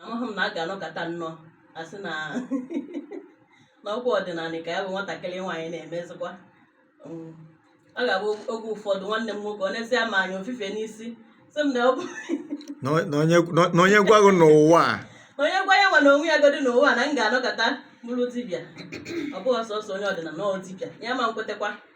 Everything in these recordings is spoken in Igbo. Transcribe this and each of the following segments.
amaghị m na a ga-anọkata nnọọ asị na n'ọgwụ ọdịnala ka ya bụ nwatakịrị nwaanyị na-emezikwa mm. ọ ga-abụ oge ụfọdụ nwanne m nwoke ọ neesịa m anya o fufe n'isi sị m na ọ bụ na onye gwa gị n'ụwa onye gwa ya nwa na onwe ya godi n'ụwa na m ga-anọkata bụrụ dibịa ọ bụghị sọsọ onye ọdịnala ọ dibịa ya ama nkwetakwa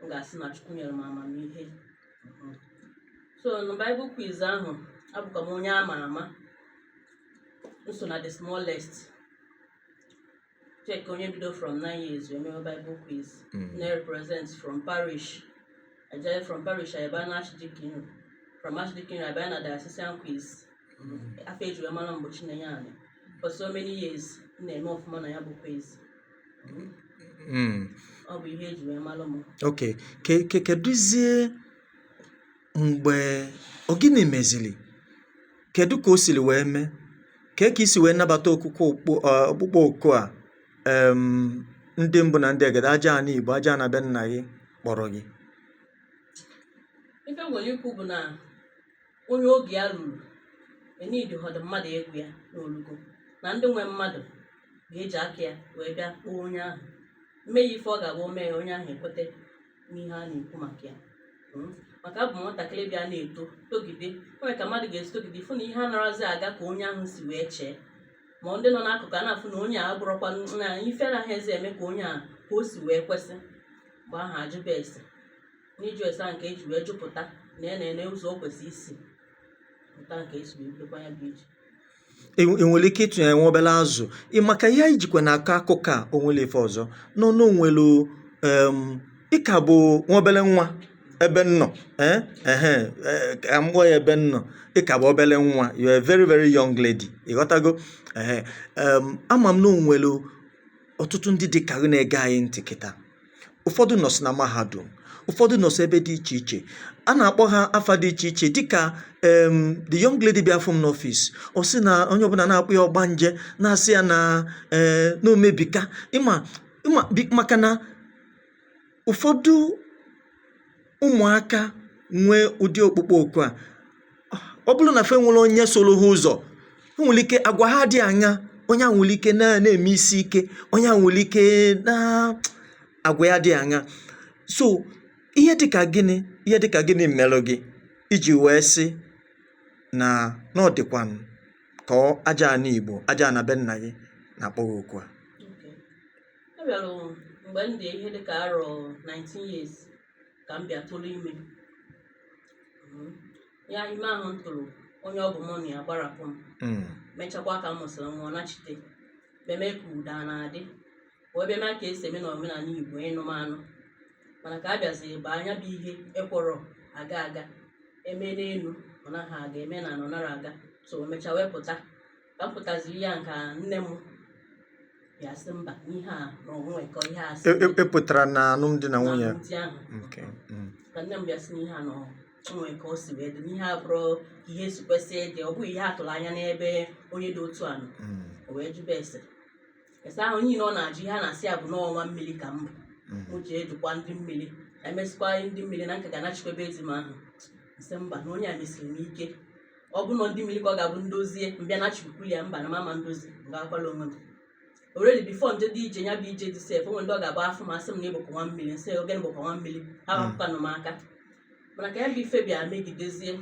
m ga-asị na Chukwu nyere m amamihe mhm. so na Bible quiz ahụ abụkwa m onye ama ama m so na the smallest check onye bido from 9 years mebe Bible quiz mm. na-represent from parish ajaye from parish ayaba na Archdeaconry from Archdeaconry abịa na diocesan quiz mm. ọ ife eji wee mara m gbochi na ya anyị for so many years na-eme ọfụma na ya bụ quiz mm. ọ bụ ihe eji wee mara m ok kedụzie mgbe ọ gịnị meziri kedu ka o siri wee mee ka ka i si wee nabata ọkpụkpọ oku a ndị mbụ na ndị egede aja ana igbo aja ana be nna gị kpọrọ gị ife m nwere ikwu bụ na onye oge ya ruru e needihọdụ mmadụ ịgwa ya n'olugo na ndị nwe mmadụ ga-eji aka ya wee bịa kpọọ onye ahụ mee ya ife ọ ga-abụ o mee ya onye ahụ ekweta n'ihe a na-ekwu maka ya hmm? maka ọ bụ nwatakịrị bịa na-eto togide o nwere ka mmadụ ga-esi togide fụ na ihe anaghịzi aga ka onye ahụ si wee chee ma ndị nọ n'akụkụ a na-afụ na onye a bụrụkwa na ife anaghịzi eme ka onye a ka o si wee kwesị mgbe ahụ ajụba ese n'ịjụ ese ahụ nke eji wee jụpụta na ya na-ene ụzọ o kwesịrị isi pụta nke esi wee bidokwa ya bụ ije E i nwere ike ịtụnyere nwa obere azụ ị makwa ihe anyị jikwa na-akọ akụkọ a onwere ife ọzọ nọ n'onwelu em ị ka bụ nwa obere nwa ebe m nọ eh ehe eh, ka m gwa ya ebe m nọ ị ka bụ obere nwa you are a very very young lady ịghọtago ehe em ama m na onwelu ọtụtụ ndị dị ka gị na-ege anyị ntị kịta ụfọdụ nọsị na mahadum ụfọdụ nọsị ebe dị iche iche a na-akpọ ha afa dị iche iche dịka em the young lady bịa fụ m n'ọfịs ọ sị na onye ọbụla na-akpọ ya ọgbanje na-asị ya na ee na omebika ịma ịma bi- maka na ụfọdụ ụmụ̀aka nwe ụdị ọkpụkpọ òkù a ọ bụrụ nà fa enwerọ onye sụụrụ ha ụzọ̀ o nwèrè ike àgwà ha dị àṅa onye à nwèrè ike na na-ème isi ike onye à nwèrè ike na àgwà ya dị àṅa so ihe dịkà gịnị ihe dịkà gịnị m̀mèlụ gị ijì wèe sị nà na ọ dị̀kwànụ̀ kà ọ aja àna ìgbò aja àna be nnà gị nà-àkpọ gị òkù a abịara mgbe m dị ihe dịka arọ 19 years ka m bịa tụrụ ime Mm. ya ime ahụ m tụrụ onye ọ bụ mụ na ya gbarapụ m Mm. mechakwa ka m mụsịrị nwa ọ nachite bịa mee ka udo a na-adị wee bịa mee ka e si eme na omenala Igbo ịnụ m anụ mana ka a bịaziri banye ya bụ ihe ekwerọ aga aga eme n'elu ọ naghị aga eme n'ana ọ narọ aga so emechaa wee pụta ka m pụtaziri ya ka nne m bịa sị mba n'ihe a na o nwe ka ihe a si E- e- ị pụtara na alụmdi na nwunye alụmdi ahụ Okay, mm. ka nne m bịa sị n'ihe a na o nwe ka o si wee dị n'ihe a abụrọ ka ihe si kwesị ịdị ọ bụghị ihe a tụrụ anya n'ebe onye dị otu a nọ Mm, o wee jụba ese ese ahụ niile ọ na-ajụ ihe a na-asị ya bụ na ọ nwa mmiri ka m bịa mm. m ji ejikwa ndị mmiri e mezikwa ndị mmiri na m ka ga-anachikwa ebe ezi m ahụ m sị mba na onye a mesiri m ike ọ bụ na ndị mmiri ka ọ ga-abụ m dozie m bịa nachikwulu ya mba na m ama edozi mgbe akwala onwe m already before m jedị ije ya bụ ije di sef o nwe ndị ọ ga-abụ afụ m asị m na ị bụkwa nwa mmiri m sị ọ gịnị bụkwa nwa mmiri ha hapụkwanụ m aka mana ka ya bụ ife bịa megidezie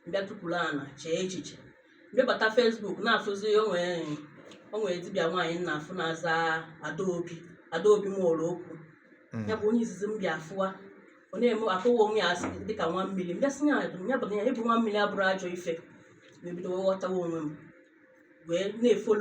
m bịa tukwuru ana chee echiche m bịa bata Facebook na-afụzi o nwere dibịa nwaanyị m na-afụ na-aza Adaobi Adaobi Nwolokwu ya bụ onye izizi m bịa fụwa ọ na-eme akọwa onwe ya as dị ka nwa mmiri m bịa sị ya ya bụ na ịbụ nwa mmiri abụrọ ajọ ife m ebido wee ghọtawa onwe m wee na-efollow